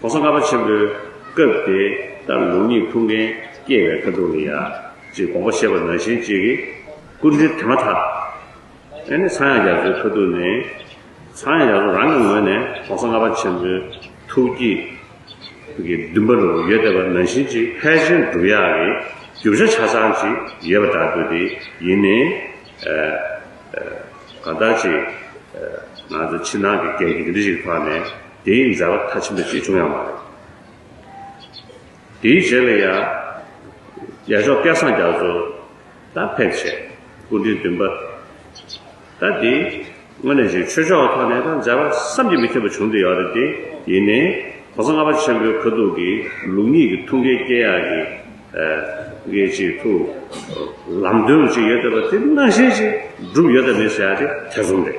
གོང་ས་ལྔ་པ་ཆེན་པོའི་སྐབས་དེ་ལྟར་ལུགས་གཉིས་ཐུགས་འགན་སྐྱེལ་བའི་ཁ་དོག་གི་ཡ། ཅེས་དགོངས་པ་བཞེས་པ་ནང་བཞིན་གཅིག་གིས་སྐུ་འདྲེན་དེ་མ་ཐག། ཨེ་ནི་ཚངས་དབྱངས་རྒྱ་མཚོའི་ཁ་ཐུག་ནས། ཚངས་དབྱངས་རྒྱ་མཚོ་རང་གི་ངོས་ནས་གོང་ས་ལྔ་པ་ཆེན་པོའི་ཐུགས་བསྐྱེད་ཀྱི་འདུན་པ་རུ་ཡོད་བསྡད་པ་ནང་བཞིན་གཅིག་ཕལ་ཆེར་འགྲུབ་ཡག་གི་རྒྱུ་བྱ་ཆ་ཚང་ཅིག་ཡོད་པ་འདྲ་འདུག་དེ་ཡིན་ནི། གང་ལྟར་གཅིག། ང་ཚོ་ཕྱི་ནང་གི་འགན་འདི་འདྲ་ཞིག་འཕངས་ནས། དེའི་མཛའ་བ་མཐའ་ཆེན་པོ་ཞིག་བྱུང་ཡང་མ་རེད། དེའི་རྗེས་ལ་ཡང། རྒྱལ་མཆོག་སྐལ་བཟང་རྒྱ་མཚོ། དང་ཕལ་ཆེར། སྐུ་མགྲོན་བདུན་པ། དང་དེའི། སྔོན་ནས་ཞིག་ཆོས་ཕྱོགས་ཐོག་ནས་དང་མཛའ་བ་བསམ་གྱིས་མི་ཁྱབ་པ་བྱུང་འདུག་ཡོད་རེད་དེ། ཡིན་ནའི། གོང་ས་ལྔ་པ་ཆེན་པོའི་ཁ་ཐུག་གི་ལུགས་གཉིས་ཀྱི་ཐུགས་འགན་བསྐྱེད་ཡག་གི། འགན་ཅིག་ཐུགས། ལམ་སྟོན་རུ་ཅིག་ཡོད་བསྡད་པ་དེ་སྣང་བཞིན་ཅིག་བསྒྲུབས་ཡོད་དམ་མེད་ཟེར་ཡག་དེ་ཐེ་ཚོམ་རེད།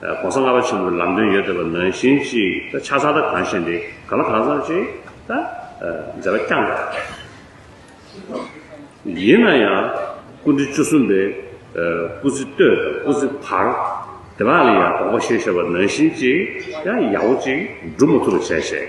ྋགོང་ས་ལྔ་པ་ཆེན་པོའི་ལམ་སྟོན་ཡོད་དོ་པ་ནང་བཞིན་གཅིག་ད་ཆ་ཚ་ད་གང་ཞེན་དེ་ག་ལ་གང་བསམ་ཅིག་ད་མཛད་པ་བསྐྱང་དགོས་པ་རེད། ཡིན་ན་ཡང་སྐུ་འདི་བཅུ་གསུམ་པའི་སྐུ་ཚེ་སྟོད་དང་སྐུ་ཚེ་བར་དེ་དག་ལ་ཡང་དོགས་པ་ཤེས་ཤོག་པ་ནང་བཞིན་གཅིག་ཡང་ཡག་པོ་གཅིག་སྒྲུབ་མ་ཐུབ་པ་བྱས་ཞེས།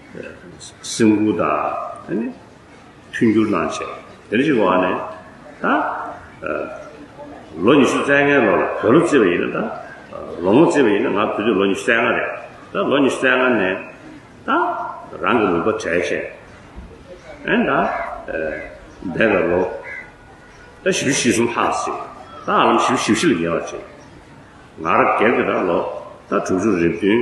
སེམས་ཁུར་དང། མཐུན་འགྱུར་གནང་ཆེད་དེ་འདྲ་ཞིག་གི་འོག་ནས། ད་ལོ་ཉི་ཤུ་རྩེ་ལྔའི་ལོ་ལ་བོད་ལོ་བརྩི་བ་ཡིན་ན་ད། ལོ་ངོ་བརྩི་བ་ཡིན་ན་ང་བུ་དུས་ལོ་ཉི་ཤུ་རྩེ་ལྔ་རེད། ད་ལོ་ཉི་ཤུ་རྩེ་ལྔ་ནས། ད་རང་གི་ནུས་པ་གྲས་བཅས། ཨན་ད། འདས་པའི་ལོ། ད་བཞི་བཅུ་བཞི་གསུམ་ལྷག་ཟིན། ད་ཧ་ལམ་བཞི་བཅུ་བཞི་བཞི་ལ་ཉེ་བར་བྱེད། ང་རང་སྒེར་གྱི་ད་ལོ་ད་དྲུག་ཅུ་རེ་བདུན།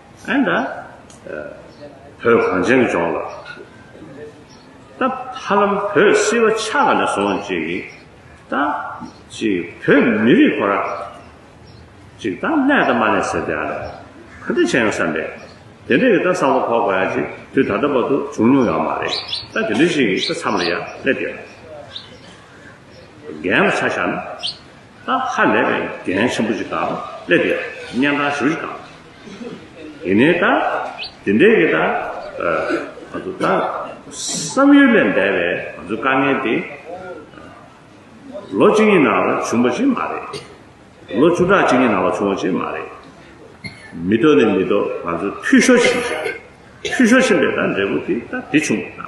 ཨན་ད། བོད་གངས་ཅན་ལྗོངས་ལ། ད་ཧ་ལམ་བོད་བསིལ་བ་ཆགས་ག་ནས་སོང་ཅིག། ད། ཅིག་བོད་མི་རིགས་ཁོ་རང། ཅིག་ད་ཀླད་ད་མ་ནས་ཟེར་དེ་ཨ་ར། ག་འདྲ་བྱས་ཡོང་བསམ་པས། དེ་འདྲ་ཡི་ད་བསམ་བློ་ཕོག་པ་ཡ་ཅིག་དུས་ད་ལྟ་བར་དུ་བྱུང་མྱོང་ཡོད་མ་རེད། ད་དེ་འདྲ་ཞིག་གི་ད་མཚམས་ལ་ཡ་ཀླད་དེ། རྒན་ལ་ཆ་བཞག་ན། ད་ཧ་ལས་པའི་དགེ་ལན་ཆེན་པོ་ཅིག་དང་སླེབས་པའི་གཉན་འཕྲང་ཞུ་ཞིག་དང། དེ་ནས་ད་དེ་འདྲའི་གི་ད་ང་ཚོ་ད་བསམ་ཡུལ་ལས་འདས་པའི་ང་ཚོའི་དཀའ་ངལ་དེ། ལོ་གཅིག་གཉིས་ནང་ལ་བྱུང་བ་ཞིག་མ་རེད། ལོ་བཅུ་ཕྲག་གཅིག་གཉིས་ནང་ལ་བྱུང་བ་ཞིག་མ་རེད། མི་ལྟོ་ནི་མི་ལྟོ་ང་ཚོས་འཐུས་ཤོར་ཕྱིན་ཞིང། འཐུས་ཤོར་ཕྱིན་པའི་ད་འབྲས་བུ་དེ་ད་དེ་བྱུང་བ་ད།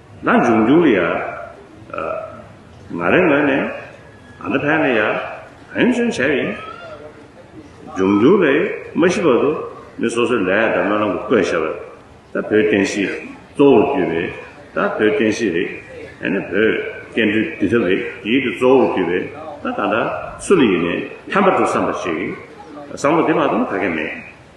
ན་འབྱུང་འགྱུར་ཡ། ང་རེ་ངོས་ནས་ཨ་ད་ཕན་ལ་ཡ་ཧན་ཅུང་བྱས་ཡིན། འབྱུང་འགྱུར་རེ་མ་ཤི་བར་དུ་མི་སོ་སོའི་ལས་དང་སྨོན་ལམ་གྱི་བཀོད་བཞག་པ་ད་བོད་བསྟན་སྲིད་གཙོ་བོར་གྱུར་པའི་ད་བོད་བསྟན་སྲིད་རེད་ཨ་ནི་བོད་སྐད་འབྲི་འབྲི་ཐབས་རེ་ཡིད་དུ་གཙོ་བོར་གྱུར་པའི་ད་ད་ད་སུ་ལ་ཡིན་ནས་ཕན་པ་འགྲོ་བསམ་པ་ཞིག་བསམ་བློ་དེ་མ་གཏོང་ཐ་གས་མེད།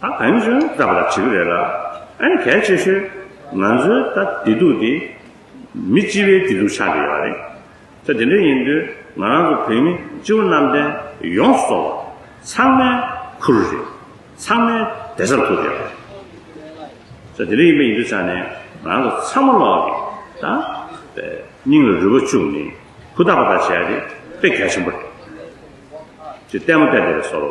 ཨ་བེམ་ཆུང་བཀྲ་བར་བྱེད་ཀྱི་རེད་ལ། ཨེ་གལ་ཆེ་ཤོས། ང་ཚོའི་ད་བདེ་སྡུག་དེ། མི་སྤྱི་བའི་བདེ་སྡུག་ཆགས་ཀྱི་ཡོད་རེད། ད་དེ་འདྲ་ཡིན་དུས་ང་རང་ཚོ་བོད་མི་སྤྱི་བོ་གནམ་བསྟན་ཡོངས་སུ་རྫོགས་པ། ཚང་མའི་ཁུར་རེད། ཚང་མའི་བདེ་རྩར་ཐུག་ཡོད་རེད། ད་དེ་འདྲ་ཡིན་པ་ཡིན་དུས་ཆ་ནས་ང་རང་ཚོ་ཚང་མ་ལོག་གི་ད་སྙིང་ལ་རུས་པ་བཅུག་ནས་ཧུར་ཐག་ཧུར་ཐག་བྱས་ཏེ་དཔེ་གལ་ཆེན་པོ་རེད། ཅེས་ལྟད་མོ་བལྟས་བསྡད་པའི་སོ་རོ།